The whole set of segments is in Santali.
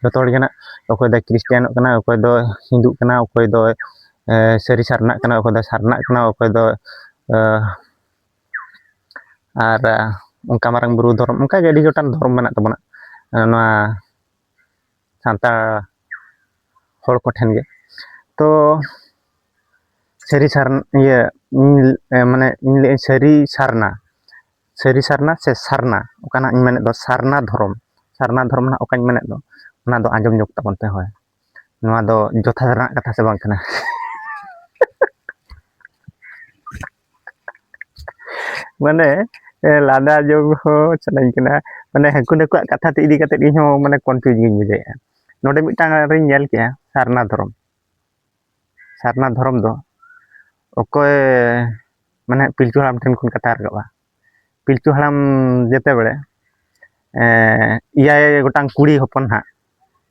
ᱡᱚᱛᱚ ᱦᱚᱲ ᱜᱮ ᱱᱟᱜ ᱚᱠᱚᱭ ᱫᱚᱭ ᱠᱷᱨᱤᱥᱴᱟᱱᱚᱜ ᱠᱟᱱᱟ ᱚᱠᱚᱭ ᱫᱚ ᱦᱤᱱᱫᱩᱜ ᱠᱟᱱᱟ ᱚᱠᱚᱭ ᱫᱚ ᱥᱟᱹᱨᱤ ᱥᱟᱨᱱᱟᱜ ᱠᱟᱱᱟ ᱚᱠᱚᱭ ᱫᱚ ᱥᱟᱨᱱᱟᱜ ᱠᱟᱱᱟ ᱚᱠᱚᱭ ᱫᱚ ᱟᱨ ᱚᱱᱠᱟ ᱢᱟᱨᱟᱝ ᱵᱩᱨᱩ ᱫᱷᱚᱨᱚᱢ ᱚᱱᱠᱟᱜᱮ ᱟᱹᱰᱤ ᱜᱚᱴᱟᱝ ᱫᱷᱚᱨᱚᱢ ᱢᱮᱱᱟᱜ ᱛᱟᱵᱚᱱᱟ ᱱᱚᱣᱟ ᱥᱟᱱᱛᱟᱲ ᱦᱚᱲ ᱠᱚᱴᱷᱮᱱ ᱜᱮ ᱛᱚ ᱥᱟᱹᱨᱤ ᱥᱟᱨᱱᱟ ᱤᱭᱟᱹ ᱢᱟᱱᱮ ᱤᱧ ᱞᱟᱹᱭᱟᱹᱧ ᱥᱟᱹᱨᱤ ᱥᱟᱨᱱᱟ ᱥᱟᱹᱨᱤ ᱥᱟᱨᱱᱟ ᱥᱮ ᱥᱟᱨᱱᱟ ᱚᱠᱟᱱᱟᱜ ᱤᱧ ᱢᱮᱱᱮᱫ ᱫᱚ ᱥᱟᱨᱱᱟ ᱫᱷᱚᱨᱚᱢ ᱥᱟᱨᱱᱟ ᱫᱷᱚᱨᱚᱢ ᱱᱟᱜ ᱚᱠᱟᱧ ᱢᱮᱱᱮᱫ ᱫᱚ ᱚᱱᱟ ᱫᱚ ᱟᱸᱡᱚᱢ ᱧᱚᱜ ᱛᱟᱵᱚᱱ ᱯᱮ ᱦᱳᱭ ᱱᱚᱣᱟ ᱫᱚ ᱡᱚᱛᱷᱟ ᱨᱮᱱᱟᱜ ᱠᱟᱛᱷᱟ ᱥᱮ ᱵᱟᱝ ᱠᱟᱱᱟ ᱢᱟᱱᱮ ᱞᱟᱸᱫᱟ ᱡᱚᱜ ᱦᱚᱸ ᱥᱟᱱᱟᱧ ᱠᱟᱱᱟ ᱢᱟᱱᱮ ᱦᱟᱹᱠᱩ ᱱᱟᱹᱠᱩᱣᱟᱜ ᱠᱟᱛᱷᱟ ᱛᱮ ᱤᱫᱤ ᱠᱟᱛᱮᱫ ᱤᱧᱦᱚᱸ ᱢᱟᱱᱮ ᱠᱚᱱᱯᱷᱤᱭᱩᱡᱽ ᱜᱤᱧ ᱵᱩᱡᱷᱟᱹᱣᱮᱫᱼᱟ ᱱᱚᱰᱮ ᱢᱤᱫᱴᱟᱝ ᱟᱨᱤᱧ ᱧᱮᱞ ᱠᱮᱜᱼᱟ ᱥᱟᱨᱱᱟ ᱫᱷᱚᱨᱚᱢ ᱥᱟᱨᱱᱟ ᱫᱷᱚᱨᱚᱢ ᱫᱚ ᱚᱠᱚᱭ ᱢᱟᱱᱮ ᱯᱤᱞᱪᱩ ᱦᱟᱲᱟᱢ ᱴᱷᱮᱱ ᱠᱷᱚᱱ ᱠᱟᱛᱷᱟ ᱨᱟᱠᱟᱵᱼᱟ ᱯᱤᱞᱪᱩ ᱦᱟᱲᱟᱢ ᱡᱮᱛᱮ ᱵᱮᱲᱮ ᱮᱭᱟᱭ ᱜᱚᱴᱟᱝ ᱠᱩᱲᱤ ᱦᱚᱯᱚᱱ ᱦᱟᱸᱜ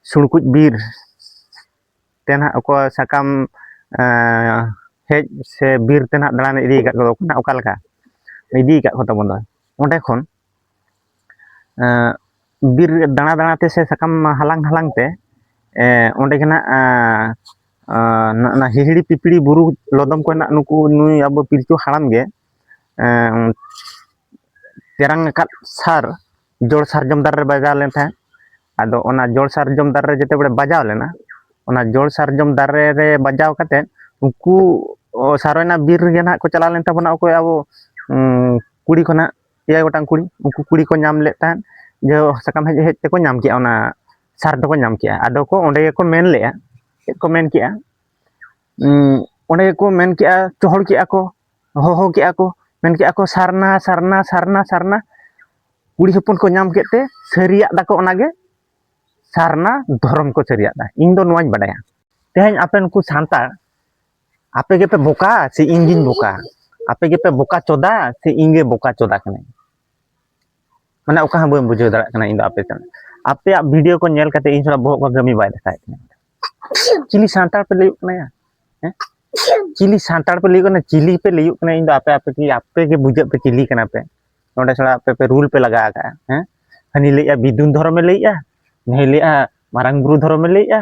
ᱥᱩᱲᱠᱩᱡ ᱵᱤᱨ ᱛᱮ ᱱᱟᱦᱟᱜ ᱚᱠᱚᱭ ᱥᱟᱠᱟᱢ ᱦᱮᱡ ᱥᱮ ᱵᱤᱨ ᱛᱮ ᱱᱟᱦᱟᱜ ᱫᱟᱬᱟᱱ ᱤᱫᱤ ᱟᱠᱟᱫ ᱠᱚᱫᱚ ᱚᱠᱟ ᱞᱮᱠᱟ ᱤᱫᱤ ᱟᱠᱟᱫ ᱠᱚ ᱛᱟᱵᱚᱱ ᱫᱚ ᱚᱸᱰᱮ ᱠᱷᱚᱱ ᱵᱤᱨ ᱫᱟᱬᱟ ᱫᱟᱬᱟᱛᱮ ᱥᱮ ᱥᱟᱠᱟᱢ ᱦᱟᱞᱟᱝ ᱦᱟᱞᱟᱝ ᱛᱮ ᱚᱸᱰᱮ ᱜᱮ ᱱᱟᱦᱟᱜ ᱚᱱᱟ ᱦᱤᱦᱤᱲᱤ ᱯᱤᱯᱤᱲᱤ ᱵᱩᱨᱩ ᱞᱚᱫᱚᱢ ᱠᱚ ᱱᱟᱦᱟᱜ ᱱᱩᱠᱩ ᱱᱩᱭ ᱟᱵᱚ ᱯᱤᱞᱪᱩ ᱦᱟᱲᱟᱢ ᱜᱮ ᱛᱮᱨᱟᱝ ᱟᱠᱟᱫ ᱥᱟᱨ ᱡᱚᱲ ᱥᱟᱨᱡᱚᱢ ᱫᱟᱨᱮ ᱨᱮ ᱵᱟᱡᱟᱣ ᱞᱮᱱ ᱛᱟᱦᱮᱸᱫ ᱟᱫᱚ ᱚᱱᱟ ᱡᱚᱲ ᱥᱟᱨᱡᱚᱢ ᱫᱟᱨᱮ ᱨᱮ ᱡᱮᱛᱮ ᱵᱮᱲᱮ ᱵᱟᱡᱟᱣ ᱞᱮᱱᱟ ᱚᱱᱟ ᱡᱚᱲ ᱥᱟᱨᱡᱚᱢ ᱫᱟᱨᱮ ᱨᱮ ᱵᱟᱡᱟᱣ ᱠᱟᱛᱮ ᱩᱱᱠᱩ ᱥᱟᱨᱚᱭᱱᱟ ᱵᱤᱨ ᱨᱮᱜᱮ ᱱᱟᱦᱟᱜ ᱠᱚ ᱪᱟᱞᱟᱣ ᱞᱮᱱ ᱛᱟᱵᱚᱱᱟ ᱚᱠᱚᱭ ᱟᱵᱚ ᱠᱩᱲᱤ ᱠᱷᱚᱱᱟᱜ ᱮᱭᱟᱭ ᱜᱚᱴᱟᱝ ᱠᱩᱲᱤ ᱩᱱᱠᱩ ᱠᱩᱲᱤ ᱠᱚ ᱧᱟᱢ ᱞᱮᱫ ᱛᱟᱦᱮᱸᱫ ᱡᱮ ᱥᱟᱠᱟᱢ ᱦᱮᱡ ᱦᱮᱡ ᱛᱮᱠᱚ ᱧᱟᱢ ᱠᱮᱜᱼᱟ ᱚᱱᱟ ᱥᱟᱨ ᱫᱚᱠᱚ ᱧᱟᱢ ᱠᱮᱜᱼᱟ ᱟᱫᱚ ᱠᱚ ᱚᱸᱰᱮ ᱜᱮᱠᱚ ᱢᱮᱱ ᱞᱮᱜᱼᱟ ᱪᱮᱫ ᱠᱚ ᱢᱮᱱ ᱠᱮᱜᱼᱟ ᱚᱸᱰᱮ ᱜᱮᱠᱚ ᱢᱮᱱ ᱠᱮᱜᱼᱟ ᱪᱚᱦᱚᱲ ᱠᱮᱜᱼᱟ ᱠᱚ ᱦᱚᱦᱚ ᱠᱮᱜᱼᱟ ᱠᱚ ᱢᱮᱱ ᱠᱮᱜᱼᱟ ᱠᱚ ᱥᱟᱨᱱᱟ ᱥᱟᱨᱱᱟ ᱥᱟᱨᱱᱟ ᱥᱟᱨᱱᱟ ᱠᱩᱲᱤ ᱦᱚᱯᱚᱱ ᱠᱚ ᱧᱟᱢ ᱠᱮᱫ ᱛᱮ ᱥᱟᱹᱨᱤᱭᱟᱜ ᱫᱟᱠᱚ ᱚᱱᱟᱜᱮ ᱥᱟᱨᱱᱟ ᱫᱷᱚᱨᱚᱢ ᱠᱚ ᱥᱟᱹᱨᱤᱭᱟᱜ ᱫᱟ ᱤᱧ ᱫᱚ ᱱᱚᱣᱟᱧ ᱵᱟᱰᱟᱭᱟ ᱛᱮᱦᱮᱧ ᱟᱯᱮ ᱱᱩᱠᱩ ᱥᱟᱱᱛᱟᱲ ᱟᱯᱮ ᱜᱮᱯᱮ ᱵᱚᱠᱟ ᱥᱮ ᱤᱧ ᱜᱤᱧ ᱵᱚᱠᱟ ᱟᱯᱮ ᱜᱮᱯᱮ ᱵᱚᱠᱟ ᱪᱚᱫᱟ ᱥᱮ ᱤᱧ ᱜᱮ ᱵᱚᱠᱟ ᱪᱚᱫᱟ ᱠᱟᱹᱱᱟᱹᱧ ᱢᱟᱱᱮ ᱚᱠᱟ ᱦᱚᱸ ᱵᱟᱹᱧ ᱵᱩᱡᱷᱟᱹᱣ ᱫᱟᱲᱮᱭᱟᱜ ᱠᱟᱱᱟ ᱤᱧ ᱫᱚ ᱟᱯᱮ ᱥᱟᱶ ᱟᱯᱮᱭᱟᱜ ᱵᱷᱤᱰᱤᱭᱳ ᱠᱚ ᱧᱮᱞ ᱠᱟᱛᱮ ᱤᱧ ᱛᱷᱚᱲᱟ ᱵᱚᱦᱚᱜ ᱠᱚ ᱠᱟᱹᱢᱤ ᱵᱟᱭ ᱫᱮᱠᱷᱟᱣᱮᱫ ᱛᱤᱧᱟ ᱪᱤᱞᱤ ᱥᱟᱱᱛᱟᱲ ᱯᱮ ᱞᱟᱹᱭᱚᱜ ᱠᱟᱱᱟ ᱦᱮᱸ ᱪᱤᱞᱤ ᱥᱟᱱᱛᱟᱲ ᱯᱮ ᱞᱟᱹᱭᱚᱜ ᱠᱟᱱᱟ ᱪᱤᱞᱤ ᱯᱮ ᱞᱟᱹᱭᱚᱜ ᱠᱟᱱᱟ ᱤᱧ ᱫᱚ ᱟᱯᱮ ᱟᱯᱮ ᱜᱮ ᱟᱯᱮ ᱜᱮ ᱵᱩᱡᱷᱟᱹᱜ ᱯᱮ ᱪᱤᱞᱤ ᱠᱟᱱᱟ ᱯᱮ ᱱᱚᱰᱮ ᱛᱷᱚᱲᱟ ᱟᱯᱮ ᱯᱮ ᱨᱩᱞ ᱯᱮ ᱞᱟᱜᱟᱣ ᱟᱠᱟᱫᱼᱟ ᱦᱮᱸ ᱦᱟᱹᱱᱤ ᱞᱟᱹᱭᱮᱫᱼᱟ ᱵᱤᱫᱩᱱ ᱫᱷᱚᱨᱚᱢᱮ ᱞᱟᱹᱭᱮᱫᱼᱟ ᱱᱩᱭ ᱞᱟᱹᱭᱮᱫᱼᱟ ᱢᱟᱨᱟᱝ ᱵᱩᱨᱩ ᱫᱷᱚᱨᱚᱢᱮ ᱞᱟᱹᱭᱮᱫᱼᱟ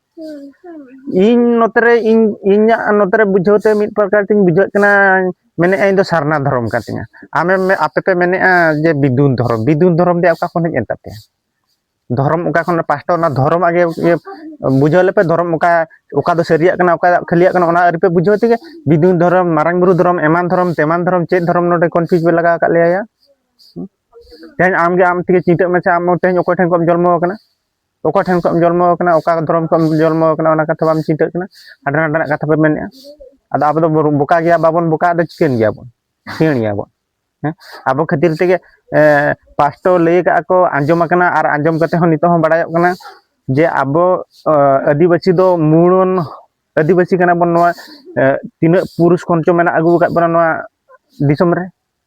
ᱤᱧ ᱱᱚᱛᱮ ᱨᱮ ᱤᱧ ᱤᱧᱟᱹᱜ ᱱᱚᱛᱮ ᱨᱮ ᱵᱩᱡᱷᱟᱹᱣ ᱛᱮ ᱢᱤᱫ ᱯᱨᱚᱠᱟᱨ ᱛᱤᱧ ᱵᱩᱡᱷᱟᱹᱜ ᱠᱟᱱᱟ ᱢᱮᱱᱮᱫᱼᱟ ᱤᱧ ᱫᱚ ᱥᱟᱨᱱᱟ ᱫᱷᱚᱨᱚᱢ ᱠᱟᱱ ᱛᱤᱧᱟ ᱟᱢᱮᱢ ᱟᱯᱮ ᱯᱮ ᱢᱮᱱᱮᱫᱼᱟ ᱡᱮ ᱵᱤᱫᱩᱱ ᱫᱷᱚᱨᱚᱢ ᱵᱤᱫᱩᱱ ᱫᱷᱚᱨᱚᱢ ᱫᱚ ᱚᱠᱟ ᱠᱷᱚᱱ ᱦᱮᱡ ᱮᱱ ᱛᱟᱯᱮᱭᱟ ᱫᱷᱚᱨᱚᱢ ᱚᱠᱟ ᱠᱷᱚᱱ ᱯᱟᱥᱴᱟ ᱚᱱᱟ ᱫᱷᱚᱨᱚᱢ ᱟᱜᱮ ᱤᱭᱟᱹ ᱵᱩᱡᱷᱟᱹᱣ ᱞᱮᱯᱮ ᱫᱷᱚᱨᱚᱢ ᱚᱠᱟ ᱚᱠᱟ ᱫᱚ ᱥᱟᱹᱨᱤᱭᱟᱜ ᱠᱟᱱᱟ ᱚᱠᱟ ᱠᱷᱟᱹᱞᱤᱭᱟᱜ ᱠᱟᱱᱟ ᱚᱱᱟ ᱟᱹᱨᱤᱯᱮ ᱵᱩᱡᱷᱟᱹᱣ ᱛᱮᱜᱮ ᱵᱤᱫᱩᱱ ᱫᱷᱚᱨᱚᱢ ᱢᱟᱨᱟᱝ ᱵᱩᱨᱩ ᱫᱷᱚᱨᱚᱢ ᱮᱢᱟᱱ ᱫᱷᱚᱨᱚᱢ ᱛᱮᱢᱟᱱ ᱫᱷᱚᱨᱚᱢ ᱪᱮᱫ ᱫᱷᱚᱨᱚᱢ ᱱᱚᱰᱮ ᱠᱚᱱᱯᱷᱤᱭᱩᱡᱽ ᱯᱮ ᱞᱟᱜᱟᱣ ᱟᱠᱟᱫ ᱞᱮᱭᱟ ᱛᱮᱦᱮᱧ ᱟᱢᱜᱮ ᱟᱢ ᱛᱮᱜᱮ ᱪᱤᱱᱛᱟᱹᱜ ᱢᱮᱥᱮ ᱟᱢ ᱛᱮᱦᱮᱧ ᱚᱠᱚᱭ ᱴᱷᱮᱱ ᱠᱷᱚᱱ ᱡᱚᱱᱢᱚ ᱟᱠᱟᱱᱟ ᱚᱠᱟ ᱴᱷᱮᱱ ᱠᱷᱚᱱ ᱡᱚᱱᱢᱚ ᱟᱠᱟᱱᱟ ᱚᱠᱟ ᱫᱷᱚᱨᱚᱢ ᱠᱷᱚᱱ ᱡᱚᱱᱢᱚ ᱟᱠᱟᱱᱟ ᱚᱱᱟ ᱠᱟᱛᱷᱟ ᱵᱟᱢ ᱪᱤᱱᱛᱟᱹᱜ ᱠᱟᱱᱟ ᱦᱟᱸᱰᱮ ᱱᱟᱸᱰᱮᱱᱟᱜ ᱠᱟᱛᱷᱟ ᱯᱮ ᱢᱮᱱᱮᱜᱼᱟ ᱟᱫᱚ ᱟᱵᱚ ᱫᱚ ᱵᱚᱠᱟ ᱜᱮᱭᱟ ᱵᱟᱵᱚᱱ ᱵᱚᱠᱟ ᱫᱚ ᱪᱤᱠᱟᱹᱱ ᱜᱮᱭᱟ ᱵᱚᱱ ᱥᱤᱭᱟᱹᱬ ᱜᱮᱭᱟ ᱵᱚᱱ ᱦᱮᱸ ᱟᱵᱚ ᱠᱷᱟᱹᱛᱤᱨ ᱛᱮᱜᱮ ᱯᱟᱥᱴᱚ ᱞᱟᱹᱭ ᱠᱟᱜᱼᱟ ᱠᱚ ᱟᱸᱡᱚᱢ ᱟᱠᱟᱱᱟ ᱟᱨ ᱟᱸᱡᱚᱢ ᱠᱟᱛᱮ ᱦᱚᱸ ᱱᱤᱛᱚᱜ ᱦᱚᱸ ᱵᱟᱲᱟᱭᱚᱜ ᱠᱟᱱᱟ ᱡᱮ ᱟᱵᱚ ᱟᱹᱫᱤᱵᱟᱹᱥᱤ ᱫᱚ ᱢᱩᱬᱚᱱ ᱟᱹᱫᱤᱵᱟᱹᱥᱤ ᱠᱟᱱᱟ ᱵᱚᱱ ᱱᱚᱣᱟ ᱛᱤᱱᱟᱹᱜ ᱯᱩᱨᱩᱥ ᱠᱷᱚᱱ ᱪᱚ ᱢᱮᱱᱟᱜ ᱟᱹᱜᱩ ᱟᱠᱟᱫ ᱵᱚᱱᱟ ᱱᱚᱣᱟ ᱫᱤᱥᱚᱢ ᱨᱮ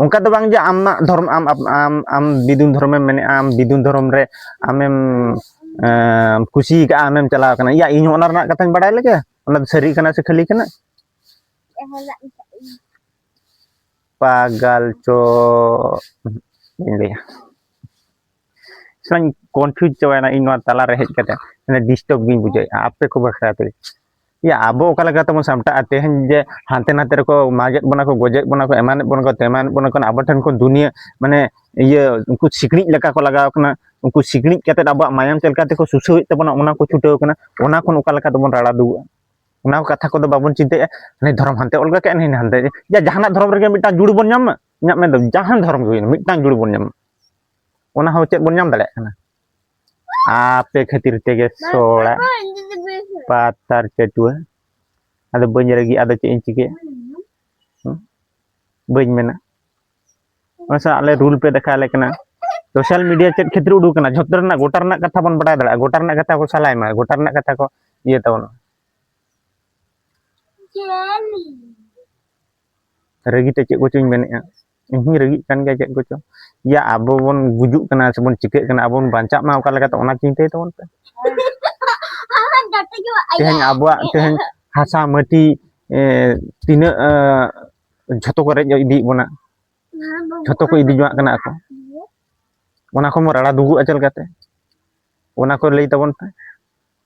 ᱚᱱᱠᱟ ᱫᱚ ᱵᱟᱝ ᱡᱮ ᱟᱢᱟᱜ ᱫᱷᱚᱨᱚᱢ ᱟᱢ ᱟᱢ ᱟᱢ ᱵᱤᱫᱩᱱ ᱫᱷᱚᱨᱚᱢᱮᱢ ᱢᱮᱱᱮᱜᱼᱟ ᱟᱢ ᱵᱤᱫᱩᱱ ᱫᱷᱚᱨᱚᱢ ᱨᱮ ᱟᱢᱮᱢ ᱠᱩᱥᱤ ᱠᱟᱜᱼᱟ ᱟᱢᱮᱢ ᱪᱟᱞᱟᱣ ᱠᱟᱱᱟ ᱤᱭᱟ ᱤᱧ ᱚᱱᱟ ᱨᱮᱱᱟᱜ ᱠᱟᱛᱷᱟᱧ ᱵᱟᱲᱟᱭ ᱞᱮᱜᱮ ᱚᱱᱟ ᱥᱟᱹᱨᱤ ᱠᱟᱱᱟ ᱥᱮ ᱠᱷᱟᱹᱞᱤ ᱠᱟᱱᱟ ᱯᱟᱜᱟᱞ ᱪᱚ ᱤᱧ ᱞᱟᱹᱭᱟ ᱥᱮᱧ ᱠᱚᱱᱯᱷᱤᱭᱩᱡᱽ ᱪᱟᱵᱟᱭᱮᱱᱟ ᱤᱧ ᱱᱚᱣᱟ ᱛᱟᱞᱟᱨᱮ ᱦᱮᱡ ᱠᱟᱛᱮ ᱰᱤᱥᱴᱟᱨᱵ ᱜᱤᱧ ᱵᱩᱡᱷᱟᱹᱣᱮᱜᱼᱟ ᱟᱯᱮ ᱠᱚ ᱵᱟᱠᱷᱨᱟ ᱛᱮ ᱭᱟ ᱟᱵᱚ ᱚᱠᱟ ᱞᱮᱠᱟ ᱛᱮᱵᱚᱱ ᱥᱟᱢᱴᱟᱜᱼᱟ ᱛᱮᱦᱮᱧ ᱡᱮ ᱦᱟᱱᱛᱮ ᱱᱟᱛᱮ ᱨᱮᱠᱚ ᱢᱟᱜᱮᱫ ᱵᱚᱱᱟ ᱠᱚ ᱜᱚᱡᱮᱫ ᱵᱚᱱᱟ ᱠᱚ ᱮᱢᱟᱱᱮᱫ ᱵᱚᱱᱟ ᱠᱚ ᱛᱮᱢᱟᱱᱮᱫ ᱵᱚᱱᱟ ᱠᱚ ᱟᱵᱚ ᱴᱷᱮᱱ ᱠᱚ ᱫᱩᱱᱤᱭᱟᱹ ᱢᱟᱱᱮ ᱤᱭᱟᱹ ᱩᱱᱠᱩ ᱥᱤᱠᱲᱤᱡ ᱞᱮᱠᱟ ᱠᱚ ᱞᱟᱜᱟᱣ ᱠᱟᱱᱟ ᱩᱱᱠᱩ ᱥᱤᱠᱲᱤᱡ ᱠᱟᱛᱮ ᱟᱵᱚᱣᱟᱜ ᱢᱟᱭᱟᱢ ᱪᱮᱫ ᱞᱮᱠᱟ ᱛᱮᱠᱚ ᱥᱩᱥᱟᱹᱣᱮᱫ ᱛᱟᱵᱚᱱᱟ ᱚᱱᱟ ᱠᱚ ᱪᱷᱩᱴᱟᱹᱣ ᱠᱟᱱᱟ ᱚᱱᱟ ᱠᱷᱚᱱ ᱚᱠᱟ ᱞᱮᱠᱟ ᱛᱮᱵᱚᱱ ᱨᱟᱲᱟ ᱫᱩᱜᱩᱜᱼᱟ ᱚᱱᱟ ᱠᱚ ᱠᱟᱛᱷᱟ ᱠᱚᱫᱚ ᱵᱟᱵᱚᱱ ᱪᱤᱱᱛᱟᱹᱭᱮᱫᱼᱟ ᱦᱟᱱᱮ ᱫᱷᱚᱨᱚᱢ ᱦᱟᱱᱛᱮ ᱚᱞ ᱠᱟᱜ ᱦᱟᱱᱮ ᱦᱟᱱᱛᱮ ᱡᱟ ᱡᱟᱦᱟᱱᱟᱜ ᱫᱷᱚᱨᱚᱢ ᱨᱮᱜᱮ ᱢᱤᱫᱴᱟᱝ ᱡᱩᱲ ᱵᱚᱱ ᱧᱟᱢ ᱢᱟ ᱤᱧᱟᱹᱜ ᱢᱮᱱᱫᱚ ᱡᱟᱦᱟᱱ ᱫᱷᱚᱨᱚᱢ ᱜᱮ ᱦᱩᱭᱱᱟ ᱢᱤᱫᱴᱟᱝ ᱡᱩᱲ ᱵᱚᱱ ᱧᱟᱢ ᱢᱟ ᱚᱱᱟ ᱦᱚᱸ ᱪᱮᱫ ᱵᱚᱱ ᱧᱟᱢ ᱫᱟᱲᱮᱭᱟᱜ ᱠᱟᱱᱟ ᱟᱯᱮ ᱠᱷᱟᱹᱛᱤᱨ ᱛᱮᱜᱮ ᱥᱚᱲᱟ ᱯᱟᱛᱟᱨ ᱪᱟᱹᱴᱩᱣᱟᱹ ᱟᱫᱚ ᱵᱟᱹᱧ ᱨᱟᱹᱜᱤ ᱟᱫᱚ ᱪᱮᱫ ᱤᱧ ᱪᱤᱠᱟᱹᱭᱟ ᱵᱟᱹᱧ ᱢᱮᱱᱟ ᱚᱱᱟ ᱥᱟᱶ ᱟᱞᱮ ᱨᱩᱞ ᱯᱮ ᱫᱮᱠᱷᱟᱣ ᱟᱞᱮ ᱠᱟᱱᱟ ᱥᱳᱥᱟᱞ ᱢᱤᱰᱤᱭᱟ ᱪᱮᱫ ᱠᱷᱟᱹᱛᱤᱨ ᱩᱰᱩᱠ ᱠᱟᱱᱟ ᱡᱷᱚᱛᱚ ᱨᱮᱱᱟᱜ ᱜᱚᱴᱟ ᱨᱮᱱᱟᱜ ᱠᱟᱛᱷᱟ ᱵᱚᱱ ᱵᱟᱰᱟᱭ ᱫᱟᱲᱮᱭᱟᱜᱼᱟ ᱜᱚᱴᱟ ᱨᱮᱱᱟᱜ ᱠᱟᱛᱷᱟ ᱠᱚ ᱥᱟᱞᱟᱭ ᱢᱟ ᱜᱚᱴᱟ ᱨᱮᱱᱟᱜ ᱠᱟᱛᱷᱟ ᱠᱚ ᱤᱭᱟᱹ ᱛᱟᱵᱚᱱᱟ ᱨᱟᱹᱜᱤ ᱛᱮ ᱪᱮᱫ ᱠᱚᱪᱚᱧ ᱢᱮᱱᱮᱫᱼᱟ ᱤᱧ ᱦᱚᱧ ᱨᱟᱹᱜᱤᱜ ᱠᱟᱱ ᱜᱮᱭᱟ ᱪᱮᱫ ᱠᱚᱪᱚ ᱤᱭᱟ ᱟᱵᱚ ᱵᱚᱱ ᱜᱩᱡᱩᱜ ᱠᱟᱱᱟ ᱥᱮᱵᱚᱱ ᱪᱤᱠᱟᱹᱜ ᱠᱟᱱᱟ ᱟᱵᱚ ᱵᱚᱱ ᱵᱟᱧᱪᱟᱜ ᱢᱟ ᱚᱠᱟ ᱞᱮᱠᱟᱛᱮ ᱚᱱᱟ ᱪᱤᱱᱛᱟᱹᱭ ᱛᱟᱵᱚᱱ ᱯᱮ ᱛᱮᱦᱮᱧ ᱟᱵᱚᱣᱟᱜ ᱛᱮᱦᱮᱧ ᱦᱟᱥᱟ ᱢᱟᱹᱴᱤ ᱛᱤᱱᱟᱹᱜ ᱡᱷᱚᱛᱚ ᱠᱚ ᱨᱮᱡ ᱤᱫᱤᱭᱮᱫ ᱵᱚᱱᱟ ᱡᱷᱚᱛᱚ ᱠᱚ ᱤᱫᱤ ᱡᱚᱝᱟᱜ ᱠᱟᱱᱟ ᱟᱠᱚ ᱚᱱᱟ ᱠᱷᱚᱱ ᱵᱚᱱ ᱨᱟᱲᱟ ᱫᱩᱜᱩᱜᱼᱟ ᱪᱮᱫ ᱞᱮᱠᱟᱛᱮ ᱚᱱᱟ ᱠᱚ ᱞᱟᱹᱭ ᱛᱟᱵᱚᱱ ᱯᱮ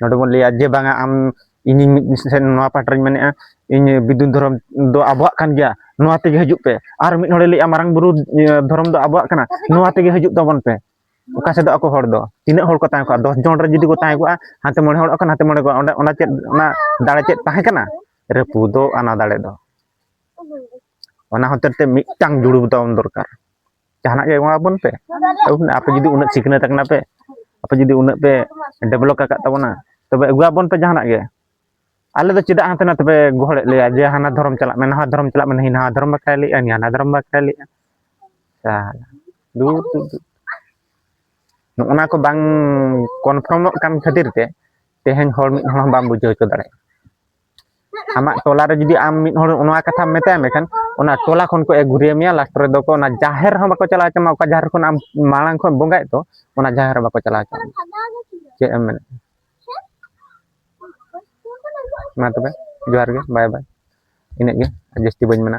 ᱱᱚᱰᱮ ᱵᱚᱱ ᱞᱟᱹᱭᱟ ᱡᱮ ᱵᱟᱝᱟ ᱟᱢ ᱤᱧᱤᱧ ᱢᱤᱫ ᱥᱮᱱ ᱱᱚᱣᱟ ᱯᱟᱦᱴᱟ ᱨᱤᱧ ᱢᱮᱱᱮᱫᱼᱟ ᱤᱧ ᱵᱤᱫᱩ ᱫᱷᱚᱨᱚᱢ ᱫᱚ ᱟᱵᱚᱣᱟᱜ ᱠᱟᱱ ᱜᱮᱭᱟ ᱱᱚᱣᱟ ᱛᱮᱜᱮ ᱦᱤᱡᱩᱜ ᱯᱮ ᱟᱨ ᱢᱤᱫ ᱦᱚᱲᱮ ᱞᱟᱹᱭᱮᱫᱼᱟ ᱢᱟᱨᱟᱝ ᱵᱩᱨᱩ ᱫᱷᱚᱨᱚᱢ ᱫᱚ ᱟᱵᱚᱣᱟᱜ ᱠᱟᱱᱟ ᱱᱚᱣᱟ ᱛᱮᱜᱮ ᱦᱤᱡᱩᱜ ᱛᱟᱵᱚᱱ ᱯᱮ ᱚᱠᱟ ᱥᱮᱫ ᱟᱠᱚ ᱦᱚᱲ ᱫᱚ ᱛᱤᱱᱟᱹᱜ ᱦᱚᱲ ᱠᱚ ᱛᱟᱦᱮᱸ ᱠᱚᱜᱼᱟ ᱫᱚᱥ ᱡᱚᱱ ᱨᱮ ᱡᱩᱫᱤ ᱠᱚ ᱛᱟᱦᱮᱸ ᱠᱚᱜᱼᱟ ᱦᱟᱱᱛᱮ ᱢᱚᱬᱮ ᱦᱚᱲᱚᱜ ᱠᱟᱱᱟ ᱦᱟᱱᱛᱮ ᱢᱚᱬᱮ ᱠᱚᱜᱼᱟ ᱚᱸᱰᱮ ᱚᱱᱟ ᱪᱮᱫ ᱚᱱᱟ ᱫᱟᱲᱮ ᱪᱮᱫ ᱛᱟᱦᱮᱸ ᱠᱟᱱᱟ ᱨᱟᱹᱯᱩᱫᱚᱜ ᱟᱱᱟ ᱫᱟᱲᱮ ᱫᱚ ᱚᱱᱟ ᱦᱚᱛᱮᱡ ᱛᱮ ᱢᱤᱫᱴᱟᱝ ᱡᱩᱲᱩ ᱛᱟᱵᱚᱱ ᱫᱚᱨᱠᱟᱨ ᱡᱟᱦᱟᱱᱟᱜ ᱜᱮ ᱮᱢᱟᱵᱚᱱ ᱯᱮ ᱟᱯᱮ ᱡᱩᱫᱤ ᱩᱱᱟᱹᱜ ᱥᱤᱠᱷᱱᱟᱹᱛ ᱟᱠᱟᱱᱟ ᱯᱮ ᱟᱯᱮ ᱡᱩᱫᱤ ᱩᱱᱟᱹᱜ ᱯᱮ ᱰᱮᱵᱷᱞᱚᱯ ᱟᱠᱟᱫ ᱛᱟᱵᱚᱱᱟ ᱛᱚᱵᱮ ᱟᱹᱜᱩᱣᱟᱵᱚᱱ ᱯᱮ ᱡᱟᱦᱟᱱᱟᱜ ᱜᱮ ᱟᱞᱮ ᱫᱚ ᱪᱮᱫᱟᱜ ᱦᱟᱱᱛᱮ ᱱᱟᱛᱮ ᱯᱮ ᱜᱚᱦᱚᱲᱮᱫ ᱞᱮᱭᱟ ᱡᱮ ᱦᱟᱱᱟ ᱫᱷᱚᱨᱚᱢ ᱪᱟᱞᱟᱜ ᱢᱮ ᱱᱟᱣᱟ ᱫᱷᱚᱨᱚᱢ ᱪᱟᱞᱟᱜ ᱢᱮ ᱱᱤ ᱱᱟᱣᱟ ᱫᱷᱚᱨᱚᱢ ᱵᱟᱠᱷᱨᱟᱭ ᱞᱟᱹᱭᱮᱫᱼᱟ ᱱᱤ ᱦᱟᱱᱟ ᱫᱷᱚᱨᱚᱢ ᱵᱟᱠᱷᱨᱟᱭ ᱞᱟᱹᱭᱮᱫᱼᱟ ᱫᱩᱨ ᱫᱩᱨ ᱫᱩᱨ ᱱᱚᱜᱼᱚᱱᱟ ᱠᱚ ᱵᱟᱝ ᱠᱚᱱᱯᱷᱟᱨᱢᱚᱜ ᱠᱟᱱ ᱠᱷᱟᱹᱛᱤᱨ ᱛᱮ ᱛᱮᱦᱮᱧ ᱦᱚᱲ ᱢᱤᱫ ᱦᱚᱲ ᱦᱚᱸ ᱵᱟᱢ ᱵᱩᱡᱷᱟᱹᱣ ᱦᱚᱪᱚ ᱫᱟᱲᱮᱭᱟᱜᱼᱟ ᱟᱢᱟᱜ ᱴᱚᱞᱟ ᱨᱮ ᱡᱩᱫᱤ ᱟᱢ ᱢᱤᱫ ᱦᱚᱲ ᱱᱚᱣᱟ ᱠᱟᱛᱷᱟᱢ ᱢᱮᱛᱟᱭ ᱢᱮᱠᱷᱟᱱ ᱚᱱᱟ ᱴᱚᱞᱟ ᱠᱷᱚᱱ ᱠᱚ ᱮᱜᱩᱨᱤᱭᱟᱹ ᱢᱮᱭᱟ ᱞᱟᱥᱴ ᱨᱮᱫᱚ ᱠᱚ ᱚᱱᱟ ᱡᱟᱦᱮᱨ ᱦᱚᱸ ᱵᱟᱠᱚ ᱪᱟᱞᱟᱣ ᱦᱚᱪᱚ ᱢᱟ ᱚᱠᱟ ᱡᱟᱦᱮᱨ ᱠᱷᱚᱱ ᱟᱢ ᱢᱟᱲᱟᱝ ᱠᱷᱚᱱ ᱵᱚᱸᱜᱟᱭᱮᱫ ᱫᱚ ᱚᱱᱟ ᱡᱟᱦᱮᱨ ᱦᱚᱸ ᱵᱟᱠᱚ ᱪᱟᱞᱟᱣ ᱦᱚᱪᱚ ᱪᱮᱫ ᱮᱢ ᱢᱮᱱᱮᱫ ᱢᱟ ᱛᱚᱵᱮ ᱡᱚᱦᱟᱨ ᱜᱮ ᱵᱟᱭ ᱵᱟᱭ ᱤᱱᱟᱹᱜ ᱜᱮ ᱡᱟᱹᱥᱛᱤ ᱵᱟᱹᱧ ᱢᱮᱱᱟ